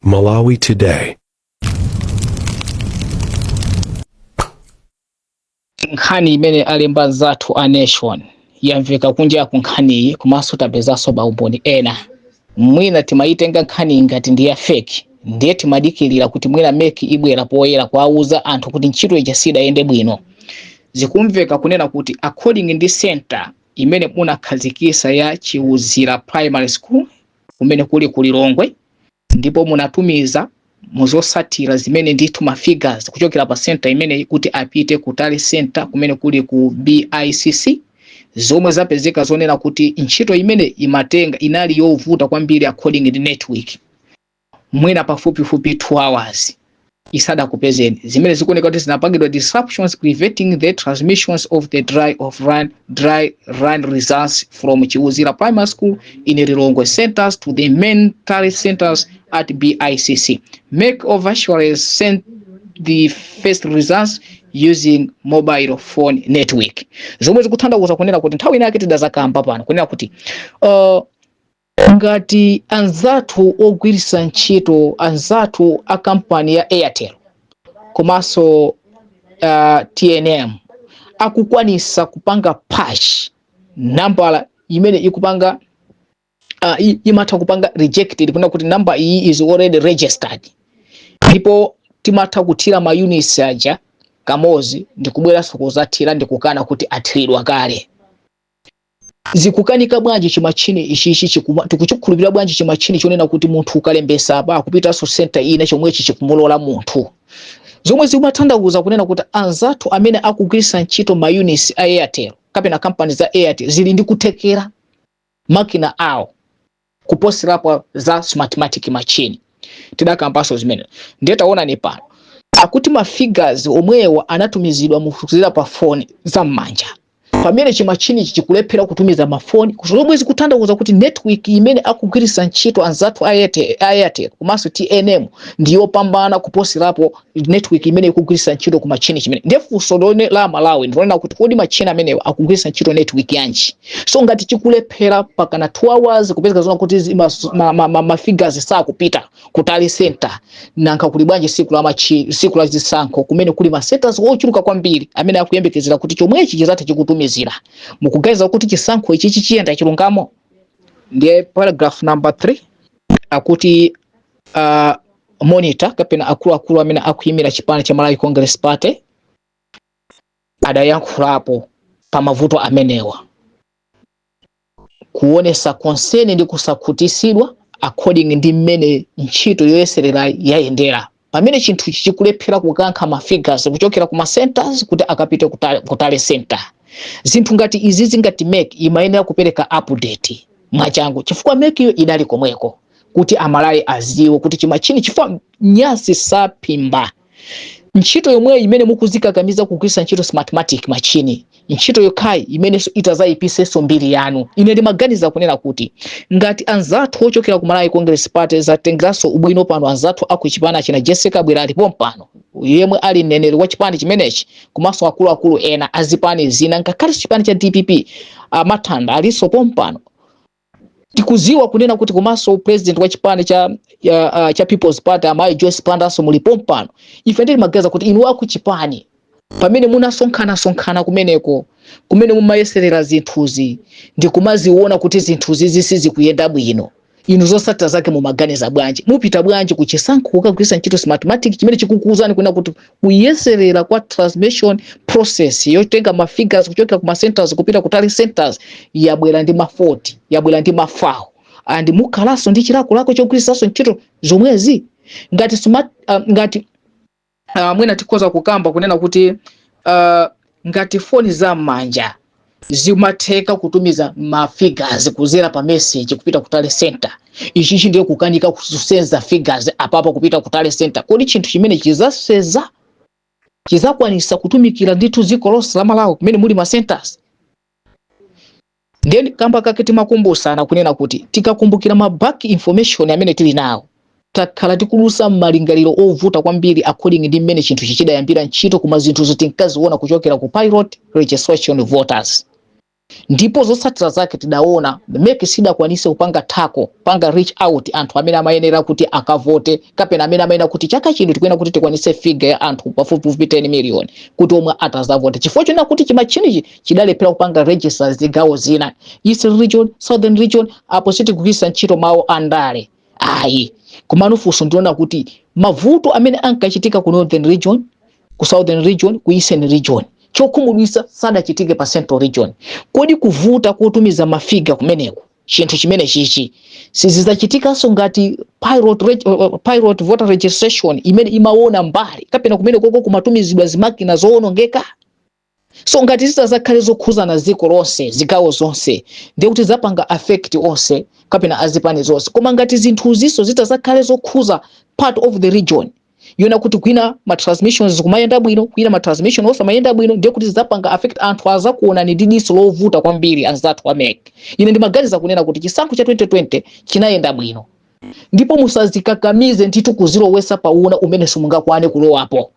Malawi Today. nkhani imene alemba nzathu a nation yamveka kunja ku nkhaniyi komanso tapezanso maumboni ena mwina timayitenga nkhaniyi ngati ndi ya feki ndiye timadikirira kuti mwina MEC ibwera poyera kuwauza anthu kuti ntchito ija sidayende bwino zikumveka kunena kuti according ndi center imene munakhazikisa ya Chiwuzira primary school kumene kuli ku Lilongwe ndipo munatumiza zotsatira zimene ndithu ma figures kuchokera pa center imeneyi kuti apite ku tally center kumene kuli ku BICC zomwe zapezeka zonena kuti ntchito imene imatenga inali yovuta kwambiri according ndi network mwina pafupifupi 2 hours isadakupezeni zimene zikuoneka kuti zinapangidwa disruptions preventing the transmissions of the dry of run, dry run results from Chiwuzira primary school in lilongwe centers to the main tally centers at bicc MEC officials sent the first results using mobile phone network zomwe zikutanthauza kunena kuti nthawi inayake tidazakamba pano kunena kuti uh, Ngati anzathu ogwiritsa ntchito anzathu a kampani ya Airtel komanso uh, TNM akukwanisa kupanga patch nambala imene ikupanga uh, i- imatha kupanga rejected kunena kuti number iyi is already registered ndipo timatha kuthira ma units aja kamozi ndikubweranso kuzathira ndikukana kuti athiridwa kale zikukanika bwanji chimachine ichichi chikuma- tikuchikhulupirira bwanji chimachine chonena kuti munthu ukalembetsa apa akupitanso senta ina chomwechi chikumulola munthu zomwe zimatanthauza kunena kuti anzathu amene akugwiritsa ntchito maunits a airtel kapena kampani za airtel zili ndi kuthekera makina awo kuposerapo za smartmatic machine tidakambanso zimenezi ndiye taonani pano akuti ma figures omwewo anatumizidwa kudzera pa foni za m'manja pamene chimachini ichi chikulephera kutumiza mafoni zomwe zikutanthauza kuti network imene akugwiritsa ntchito anzathu a Airtel- a airtel komanso tnm ndiyopambana kuposerapo network imene ikugwiritsa ntchito ku machine chimene ndiye funso lone la malawi ndilonena kuti kodi machine amenewa akugwiritsa ntchito network yanji so ngati chikulephera pakana 2 hours kupezeka zona kuti zi- mas- ma- ma- ma- mafigures sakupita ku tally center nanga kuli bwanji siku la machi siku la zisankho kumene kuli ma centers ochuluka kwambiri amene akuyembekezera kuti chomwechi chizatha chikutumizira mukuganiza kuti chisankho ichi chiyenda chilungamo ndiye paragraph number 3 akuti uh, monitor kapena akuluakulu amene akuyimira chipani cha malawi congress party adayankhulapo pa mavuto amenewa kuonesa concern ndi kusakhutisidwa according ndi mmene ntchito yoyeserera yayendera pamene chinthu ichi chikulephera kukankha ma figures kuchokera ku ma centers kuti akapite ku tally, ku tally center zinthu ngati izi zingati mec imayenera kupereka update mwachangu chifukwa mec iyo idali komweko kuti amalawi aziwe kuti chimatchini chifukwa nyansi saphimba ntchito yomweyo imene mukuzikakamiza kugwirisa ntchito smartmatic machine ntchito yokhayi imenenso itazayipisenso mbiri yanu ine ndimaganiza kunena kuti ngati anzathu ochokera ku malawi congress party zatengeranso ubwino pano anzathu aku chipani china jessie kabwila ali pompano yemwe ali mneneri wa chipani chimenechi komanso akuluakulu ena azipani zina ngakhale chipani cha dpp amathanda alinso pompano tikuziwa kunena kuti komanso president wa chipani cha ya, uh, cha people's party amayi joyce bandanso muli pompano ife ndimaganiza kuti inu akuchipani pamene munasonkhana sonkhana kumeneko kumene mumayeserera zinthuzi ndi kumaziona kuti zinthuzi sizikuyenda bwino inu zosatira zake mumaganiza bwanji mupita bwanji kuchisankho kukagwirisa ntchito smartmatic chimene chikukuuzani kunena kuti kuyeserera kwa transmission process yotenga ma figures kuchokera ku ma centers kupita ku tally centers yabwera ndi ma fault yabwera ndi ma foul and mukhalanso ndi chilakolako chogwiritsanso ntchito zomwezi ngati smart uh, ngati uh, mwina tikhoza kukamba kunena kuti uh, Ngati foni za mmanja zimatheka kutumiza ma figures kuzera pa message kupita ku tally centre, ichichi ndiye kukanika kusenza figures apapa kupita ku tally centre, kodi chinthu chimenechi chizaseza, chizakwanisa kutumikira ndithu dziko lonse la Malawi kumene muli ma centres? Ndiye kamba kake timakumbutsana kunena kuti tikakumbukira ma back information amene tili nawo, takhala tikudutsa mmalingaliro ovuta kwambiri according ndi mmene chinthuchi chidayambira ntchito koma zinthuzo tinkaziona kuchokera ku Pilot Registration Voters ndipo zotsatira zake tidaona mec sidakwanise kupanga tackle, kupanga reach out anthu amene amayenera kuti akavote kapena amene amayenera kuti chaka chino tikuyenera kuti tikwanitse figure ya anthu pafupifupi 10 million kuti omwe atazavote chifukwa chonena kuti chimatchinichi chidalephera kupanga register zigawo zina eastern region southern region apo sitikugwiritsa ntchito mawu a ndale ayi komano funso ndi lonena kuti mavuto amene ankachitika ku northern region ku southern region ku eastern region chokhumudwitsa sadachitike pa central region kodi kuvuta kotumiza mafiga kumeneku chinthu chimenechichi sizizachitikanso ngati pilot, reg- uh, uh, pilot voter registration imene imaona mbali kapena kumenekoko kumatumizidwa zimakina zoonongeka so ngati zitazakhale zokhuzana dziko lonse zigawo zonse ndiye kuti zapanga affect onse kapena azipani zonse koma ngati zinthuziso zitazakhale zokhuza part of the region yona kuti kwina ma transmissions zikumayenda bwino kwina ma transmission osamayenda bwino ndiye kuti zidzapanga affect anthu azakuonani ndi diso lovuta kwambiri anzathu a MEC ine ndimaganiza kunena kuti chisankho cha 2020 chinayenda bwino ndipo musazikakamize ndithu kuzilowesa pa una umene simungakwane kulowapo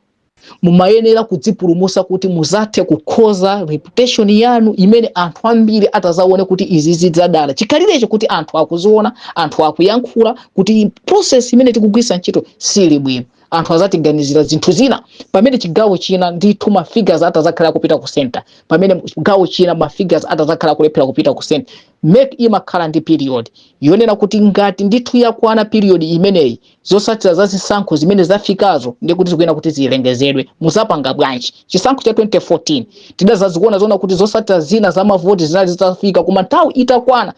mumayenera kudzipulumusa kuti muzathe kukonza reputation yanu imene anthu ambiri atazaone kuti izi zidzadala chikhalirecho kuti anthu akuziona anthu akuyankhula kuti process imene tikugwirisa ntchito sili bwino anthu azatiganizira zinthu zina pamene chigawo china ndithu ma figures atazakhala kupita ku center pamene chigawo china ma figures atazakhala kulephera kupita ku center Mec imakhala ndi period yonena kuti ngati ndithu yakwana period imeneyi zotsatira za zisankho zimene zafikazo ndiye kuti zikuyenera kuti zilengezedwe. Muzapanga bwanji? Chisankho cha 2014 tidazaziona zoona kuti zotsatira zina za mavoti zinali zitafika koma nthawi itakwana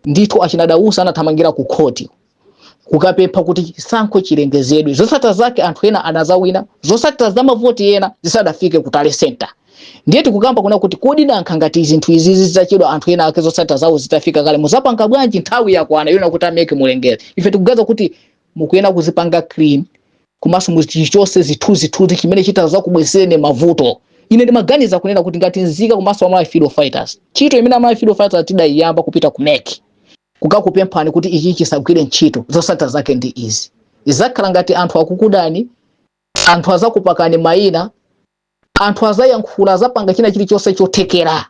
ndithu achina Dausi anathamangira ku khoti. kukapempha kuti chisankho chilengezedwe zotsatira zake anthu ena anazawina zotsatira za mavoti ena zisadafike ku tally center ndiye tikukamba kunena kuti kodi nanga ngati zinthu izi zidzachedwa anthu ena ake zotsatira zawo zitafika kale muzapanga bwanji nthawi yakwana yona kuti a MEC mulengeze ife tikuganiza kuti mukuyena kuzipanga clean komanso muchichose chithunzithunzi chimene chitazakubwesereni mavuto ine ndimaganiza kunena kuti ngati nzika komanso a Malawi freedom fighters ntchito imene a Malawi freedom fighters tidaiyamba kupita ku mec kukakupemphani kuti ichi chisagwire ntchito zosatira zake ndi izi zizakhala ngati anthu akukudani anthu azakupakani maina anthu azayankhula azapanga china chilichonse chothekera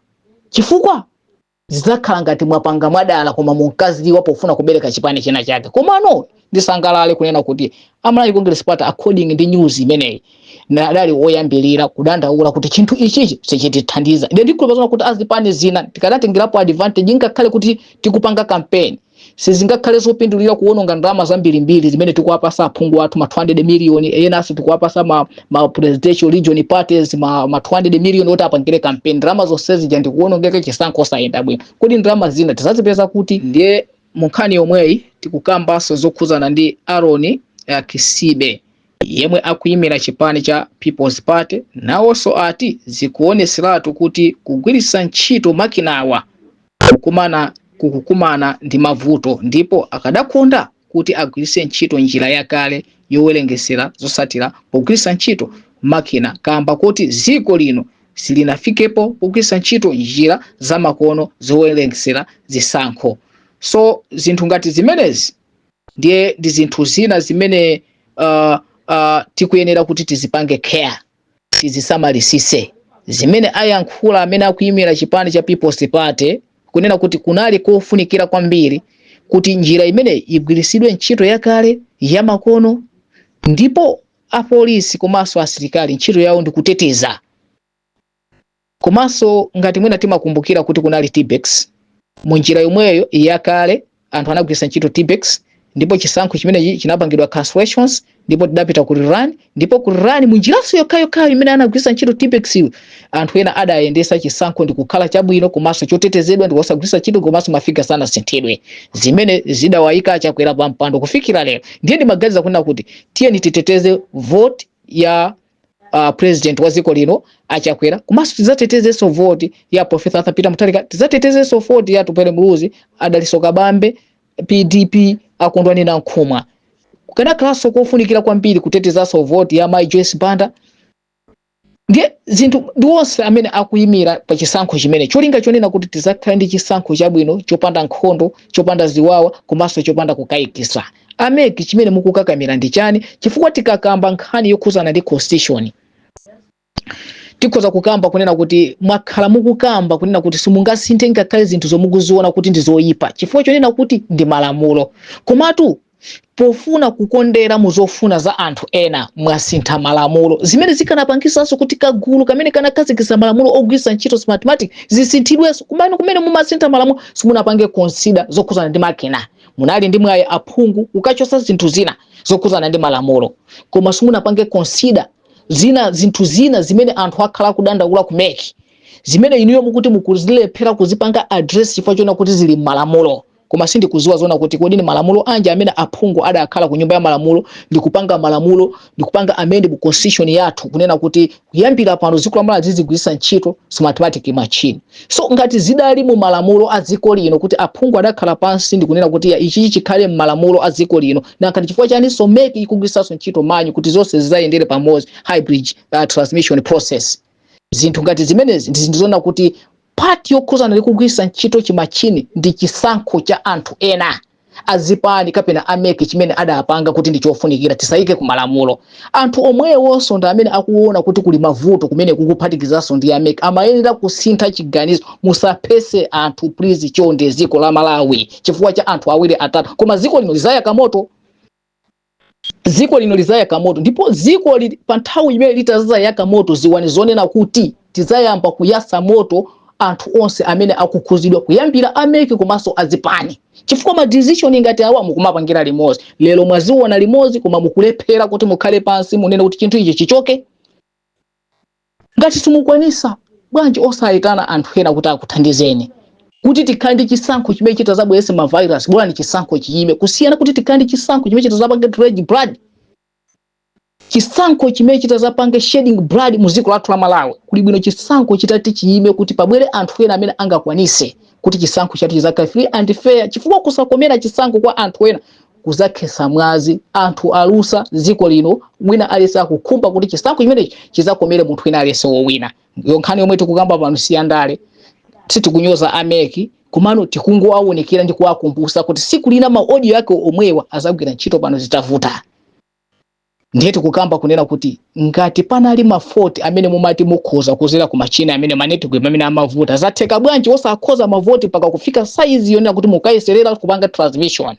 chifukwa zizakhala ngati mwapanga mwadala koma munkaziwa pofuna kubereka chipani china chake komano Ndisangalale kunena kuti a Malawi Congress Party according ndi news imeneyi na- adali oyambirira kudandaula kuti chinthu ichichi sichitithandiza. Ine ndikhulupirira kuti azipani zina tikadatengerapo advantage ngakhale kuti tikupanga campaign sizingakhale zopindulira kuwononga ndalama zambirimbiri zimene tikuwapasa aphungu athu ma 200 million enanso tikuwapasa ma, ma presidential region parties ma, ma 200 million oti apangire campaign ndalama zonse zija ndikuwonongeka chisankho osayenda bwino kodi ndalama zina tizazipeza kuti ndiye Munkhani yomweyi tikukambanso zokhudzana ndi Aaron Kisibe yemwe akuyimira chipani cha People's Party nawonso ati zikuwoneseratu kuti kugwiritsa ntchito makinawa kukumana kukukumana ndi mavuto ndipo akadakonda kuti agwiritse ntchito njira yakale yowerengesera zosatira pogwiritsa ntchito makina kamba kuti dziko lino silinafikepo pogwiritsa ntchito njira zamakono zowerengsera zisankho so zinthu ngati zimenezi ndiye ndi zinthu zina zimene uh, uh, tikuyenera kuti tizipange care tizisamalisise zimene ayankhula amene akuyimira chipani cha people's party kunena kuti kunali kofunikira kwambiri kuti njira imeneyi igwiritsidwe ntchito yakale yamakono ndipo apolisi komanso asilikali ntchito yawo ndi kuteteza komanso ngati mwina timakumbukira kuti kunali tippex mu njira yomweyo yakale anthu anagwiritsa ntchito tippex ndipo chisankho chimene chinapangidwa cancellation ndipo tidapita ku rerun ndipo ku rerun mu njiranso yokhayokhayo imene anagwiritsa ntchito tippex yo anthu ena adayendesa chisankho ndi kukhala chabwino komanso chotetezedwa ndi osagwiritsa ntchito komanso mafiga sanasinthidwe zimene zidawayika a Chakwera pa mpando kufikira lero ndiye ndimaganiza kunena kuti tiyeni titeteze vote ya uh, president wa dziko lino a Chakwera komanso tidzatetezenso vote ya profesa arthur peter mutharika tidzatetezenso vote ya Atupele muluzi a Dalitso Kabambe pdp a Kondwani Nankhumwa kukanakhalanso kofunikira kwambiri kutetezanso vote ya mai joyce banda ndiye zinthu ndi onse amene akuyimira pa chisankho chimene cholinga chonena kuti tizakhale ndi chisankho chabwino chopanda nkhondo chopanda ziwawa komanso chopanda kukayikisa a mec chimene mukukakamira ndi chani chifukwa tikakamba nkhani yokhuzana ndi constitution tikhoza kukamba kunena kuti mwakhala mukukamba kunena kuti simungasinthe ngakhale zinthu zomwe mukuziona kuti ndi zoyipa chifukwa chonena kuti ndi malamulo komatu Pofuna kukondera mu zofuna za anthu ena, mwasintha malamulo, zimene zikanapangitsanso kuti kagulu kamene kanakhazikitsa malamulo ogwiritsa ntchito Smartmatic zisinthidwenso. Komano kumene mumasintha malamulo simunapange consider zokhudzana ndi makina. Munali ndi mwayi aphungu kukachotsa zinthu zina zokhudzana ndi malamulo, koma simunapange consider zina zinthu zina zimene anthu akhala akudandaula ku mec, zimene inuyo mukuti mukuzilephera kuzipanga address chifukwa chonena kuti zili mmalamulo. koma sindikuziwa zonena kuti kodi ni malamulo anji amene aphungu adakhala ku nyumba ya malamulo ndi kupanga malamulo ndi kupanga amend mu constitution yathu kunena kuti kuyambira pano dziko la Malawi zizigwiritsa ntchito smartmatic machine so ngati zidali mu malamulo a dziko lino kuti aphungu adakhala pansi ndi kunena kuti ichichi chikhale mu malamulo a dziko lino nanga chifukwa chani so mec ikugwiritsanso ntchito manual kuti zonse zizayendere pamodzi hybrid uh, transmission process zinthu ngati zimenezi ndi zinthu zonena kuti Part yokhuzana ndi kugwiritsa ntchito chimachine ndi chisankho cha anthu ena azipani kapena a mec chimene adapanga kuti ndi chofunikira tisayike ku malamulo. Anthu omwewonso ndi amene akuwona kuti kuli mavuto kumeneku kuphatikizanso ndi a mec amayenera kusintha chiganizo musaphese anthu please chonde ziko la Malawi chifukwa cha anthu awiri atatu koma ziko lino lizayaka moto. dziko lino lizayaka moto ndipo dziko li pa nthawi imene litazayaka moto dziwani zonena kuti tizayamba kuyasa moto anthu onse amene akukhuzidwa kuyambira a MEC komanso azipani chifukwa ma decision ngati awa mukumapangira limodzi lero mwaziona limodzi koma mukulephera kuti mukhale pansi munene kuti chinthu ichi chichoke Ngati simukwanisa, bwanji osayitana anthu ena kuti akuthandizeni? Kuti tikhale ndi chisankho chimene chitazabwerese ma virus bolani chisankho chiyime kusiyana kuti tikhale ndi chisankho chimene chitazapange drag blood chisankho chimene chitazapange shedding blood mu ziko lathu la Malawi. Kuli bwino chisankho chitati chiyime kuti pabwere anthu ena amene angakwanise kuti chisankho chathu chizakhale free and fair chifukwa kusakomera chisankho kwa anthu ena kuzakhetsa mwazi anthu alusa dziko lino wina alese akukhumba kuti chisankho chimenechi chizakomere munthu wina alese wowinayo nkhani yomwe tikukamba pano si yandale sitikunyoza a MEC komano tikungowaunikira ndi kuwakumbusa kuti siku lina ma audio ake omwewa azagwira ntchito pano zitavuta ndiye tikukamba kunena kuti ngati panali mafoti amene mumati mukhoza kuzera ku machine amene ma network amene amavuta zatheka bwanji osakhoza mafoti mpaka kufika saizi yonena kuti mukayeserera kupanga transmission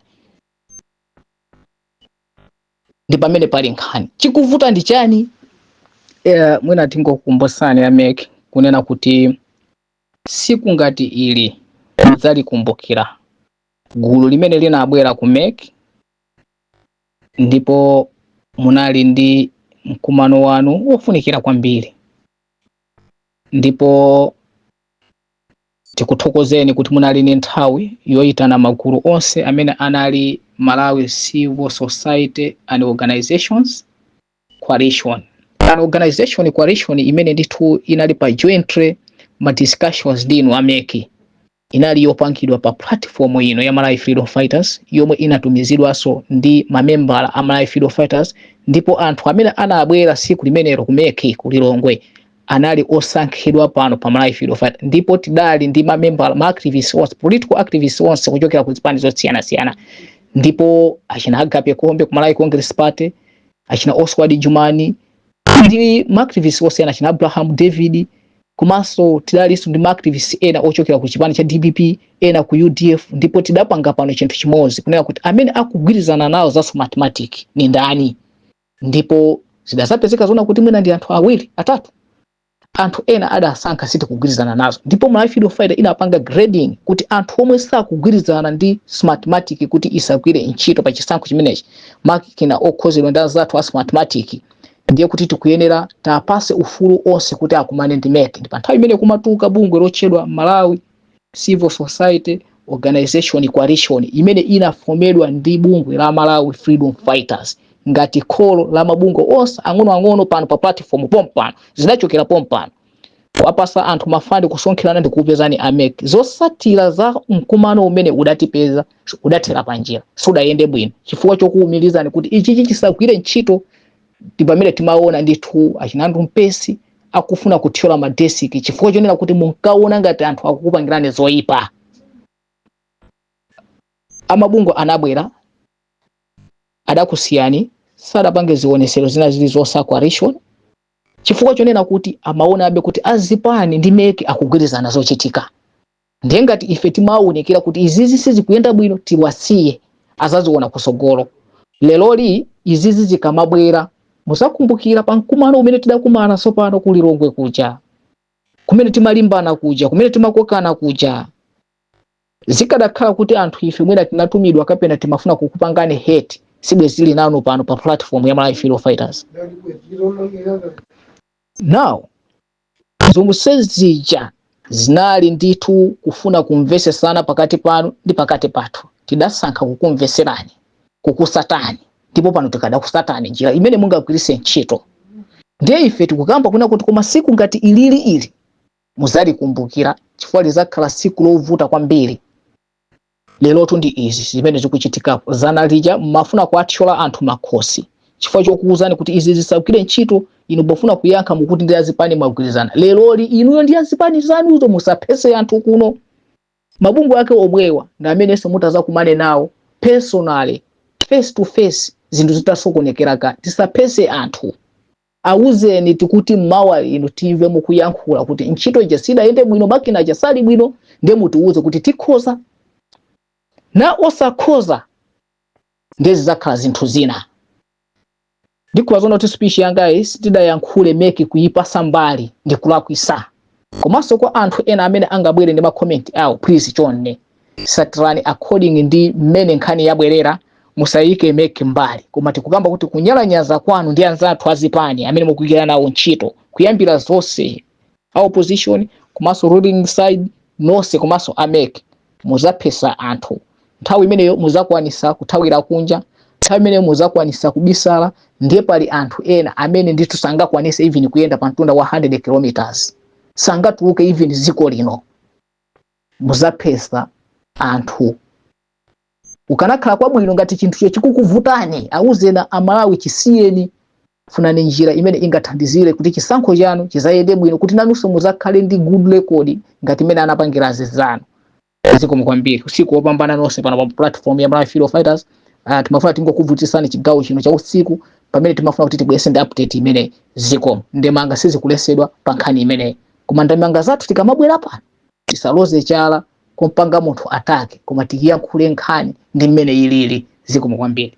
ndi pamene pali nkhani chikuvuta ndi chani eh, mwina tingokukumbusani a MEC kunena kuti siku ngati ili mudzalikumbukira gulu limene linabwera ku MEC ndipo munali ndi mkumano wanu wofunikira kwambiri ndipo tikuthokozeni kuti munali ndi nthawi yoyitana magulu onse amene anali Malawi Civil Society and Organizations coalition an organization coalition imene ndithu inali pa jointly ma discussions ndi inu a MEC inali yopangidwa pa platform ino ya Malawi Freedom Fighters yomwe inatumizidwanso ndi mamembala a Malawi Freedom Fighters ndipo anthu amene anabwera siku limenelo ku MEC ku Lilongwe anali osankhidwa pano pa Malawi Freedom Fighters ndipo tidali ndi mamembala ma activists onse political activists onse kuchokera ku zipani zosiyanasiyana ndipo achina Agape Khombe ku Malawi Congress Party achina Oswald Jumani ndi ma activist onse ena achina Abraham David komanso tidalinso ndi ma activist ena ochokera ku chipani cha DPP ena ku UDF ndipo tidapanga pano chinthu chimodzi kunena kuti amene akugwirizana nawo za Smartmatic ni ndani ndipo zidazapezeka zona kuti mwina ndi anthu awiri atatu anthu ena adasankha sitikugwirizana nazo ndipo Malawi Freedom Fighter inapanga grading kuti anthu omwe sakugwirizana ndi Smartmatic kuti isagwire ntchito pa chisankho chimenechi makina okhozedwa ndi anzathu a Smartmatic ndiye kuti tikuyenera tiwapase ufulu onse kuti akumane ndi MEC ndi pa nthawi imene kumatuka bungwe lotchedwa Malawi civil society organization coalition imene inafomedwa ndi bungwe la malawi freedom fighters ngati kholo la mabungwe onse ang'onoang'ono pano pa platform pompano zinachokera pompano apasa anthu ma fund kusonkherana ndi kukupezani a MEC zosatira za mkumano umene udatipeza udathera panjira sudayende bwino chifukwa chokuwumirizani kuti ichichi chisagwire ntchito ndi pamene timaona ndithu a Chinandu Mpesi akufuna kuthyola madesiki chifukwa chonena kuti munkaona ngati anthu akukupangirani zoyipa amabungwe anabwera adakusiyani sadapange zionesero zina zili zosa coalition chifukwa chonena kuti amaonabe kuti azipani ndi MEC akugwirizana zochitika ndiye ngati ife timaonekera kuti izizi sizikuyenda bwino tiwasiye azaziona kutsogolo leroli izizi zikamabwera muzakumbukira pa mkumano umene tidakumana sopano ku lilongwe kuja kumene timalimbana kuja kumene timakokana kuja zikadakhala kuti anthu ife mwina tinatumidwa kapena timafuna kukupangani hate sibwezi tili nanu pano pa platform ya malawi freedom fighters now Zonse zija zinali ndithu kufuna kumvesesana pakati panu ndi pakati pathu. Tidasankha kukumveserani, kukusatani, ndipo pano tikadakusatani njira imene mungagwirise ntchito. Ndiye ife tikukamba kunena kuti koma siku ngati ilili ili muzalikumbukira chifukwa lizakhala siku lovuta kwambiri. lerotu ndi izi zimene zikuchitikapo zana lija mmafuna kuathyola anthu makhosi chifukwa chokuwuzani kuti izi zisagwire ntchito inu pofuna kuyankha mukuti ndi azipani mwagwirizana leroli inuyo ndi azipani zanuzo musaphese anthu kuno mabungwe ake omwewa ndi amenenso mutazakumane nawo personally face to face zinthu zitasokonekera ka tisaphese anthu Awuzeni tikuti mawa inu timve mukuyankhula kuti ntchito ija sidayende bwino makina aja sali bwino nde mutiwuze kuti tikhoza na osakhoza nde zizakhala zinthu zina. Ndikuwuzani zoona kuti speech yangayi, sitidayankhule mec kuyipasa mbali ndikulakwisa. komanso kwa anthu ena amene angabwere ndi ma comment awo please chonde satirani according ndi mmene nkhani yabwerera musayike mec mbali koma tikukamba kuti kunyalanyaza kwanu ndi anzathu azipani amene mukugwira nawo ntchito kuyambira zonse a opposition komanso ruling side nonse komanso a mec muzaphesa anthu nthawi imeneyo muzakwanisa kuthawira kunja nthawi imeneyo muzakwanisa kubisala ndiye pali anthu ena amene ndithu sangakwanise even kuyenda pa mtunda wa 100 kilometers sangatuluke even dziko lino muzaphesa anthu kukanakhala kwabwino ngati chinthucho chikukuvutani auzeni amalawi chisiyeni Funani njira imene ingathandizire kuti chisankho chanu chizayende bwino kuti nanunso muzakhale ndi good record ngati imene anapangira azinzanu. Zikomo kwambiri. Usiku wopambana nonse pano pa platform ya Malawi Freedom Fighters. Uh, timafuna tingokuvutisani chigawo chino cha usiku pamene timafuna kuti tibwerese ndi update imeneyi zikomo ndemanga sizikulesedwa pa nkhani imeneyi koma ndemanga zathu tikamabwera pano tisaloze chala kumpanga munthu atake koma tikiyankhule nkhani ndi mmene ilili zikomo kwambiri